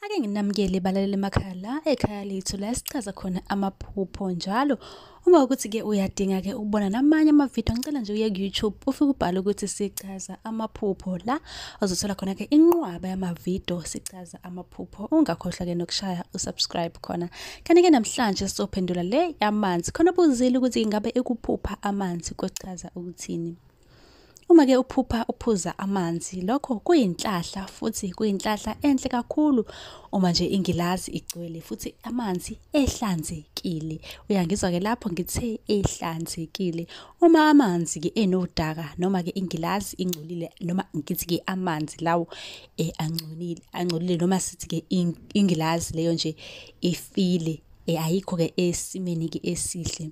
Ake nginamukele balalele emakhaya la ekhaya lethu la esichaza khona amaphupho njalo uma ukuthi-ke uyadinga-ke ukubona namanye amavidiyo ngicela nje uye ku-youtube ufike ubhale ukuthi sichaza amaphupho la ozothola khona-ke inqwaba yamavidiyo sichaza amaphupho ungakhohlwa-ke nokushaya usubscribe khona kanti-ke namhlanje sizophendula le yamanzi khona buzile ukuthi ingabe ikuphupha amanzi kuchaza ukuthini Uma ke uphupha uphuza amanzi lokho kuyinhlahla futhi kuyinhlahla enhle kakhulu uma nje ingilazi igcwele futhi amanzi ehlanzekile. Uyangizwa ke lapho ngithe ehlanzekile. Uma amanzi ke enodaka noma ke ingilazi ingcolile noma ngithi ke amanzi lawo eh angcolile angcolile noma sithi ke ingilazi leyo nje ifile eh ayikho ke esimeni ke esihle.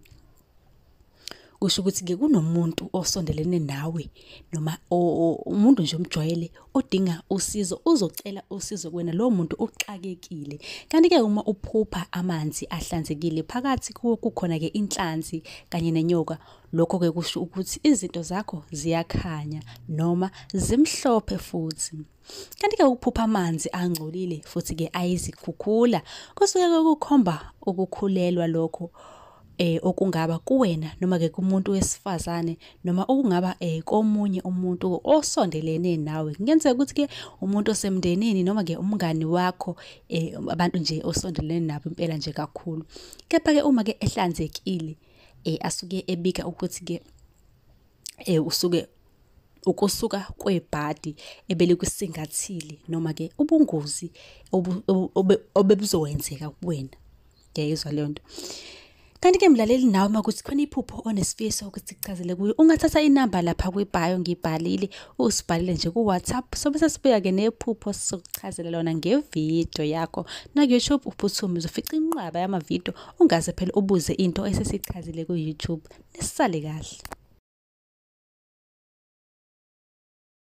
kusho ukuthi-ke kunomuntu osondelene nawe noma umuntu nje omjwayele odinga usizo uzocela usizo kuwena lowo muntu uxakekile kanti-ke uma uphupha amanzi ahlanzekile phakathi kuwo kukhona-ke inhlanzi kanye nenyoka lokho-ke kusho ukuthi izinto zakho ziyakhanya noma zimhlophe futhi Kanti-ke ukuphupha amanzi angcolile futhi-ke ayizikhukhula kusuke kukhomba ukukhulelwa lokho eh okungaba kuwena noma ke kumuntu wesifazane noma okungaba eh komunye umuntu osondelene nawe kungenzeka ukuthi ke umuntu osemndenini noma ke umngani wakho eh abantu nje osondelene nabo impela nje kakhulu kepha ke uma ke ehlanzekile eh asuke ebika ukuthi ke eh usuke ukusuka kwebhadi ebelikusingathile noma ke ubungozi obebuzokwenzeka kuwena ngiyayizwa leyo nto kanti ke mlaleli nawe uma kuthi khona iphupho onesifiso ukuthi kuchazele kuyo ungathatha inamba lapha kwibhayo ngibhalile usibhalele nje ku-whatsapp sobe sesibuya ke nephupho sizokuchazela lona ngevidiyo yakho naku-youtube uphuthume uzofica inqwaba yamavidiyo ungaze phela ubuze into esesichazile ku-youtube nisale kahle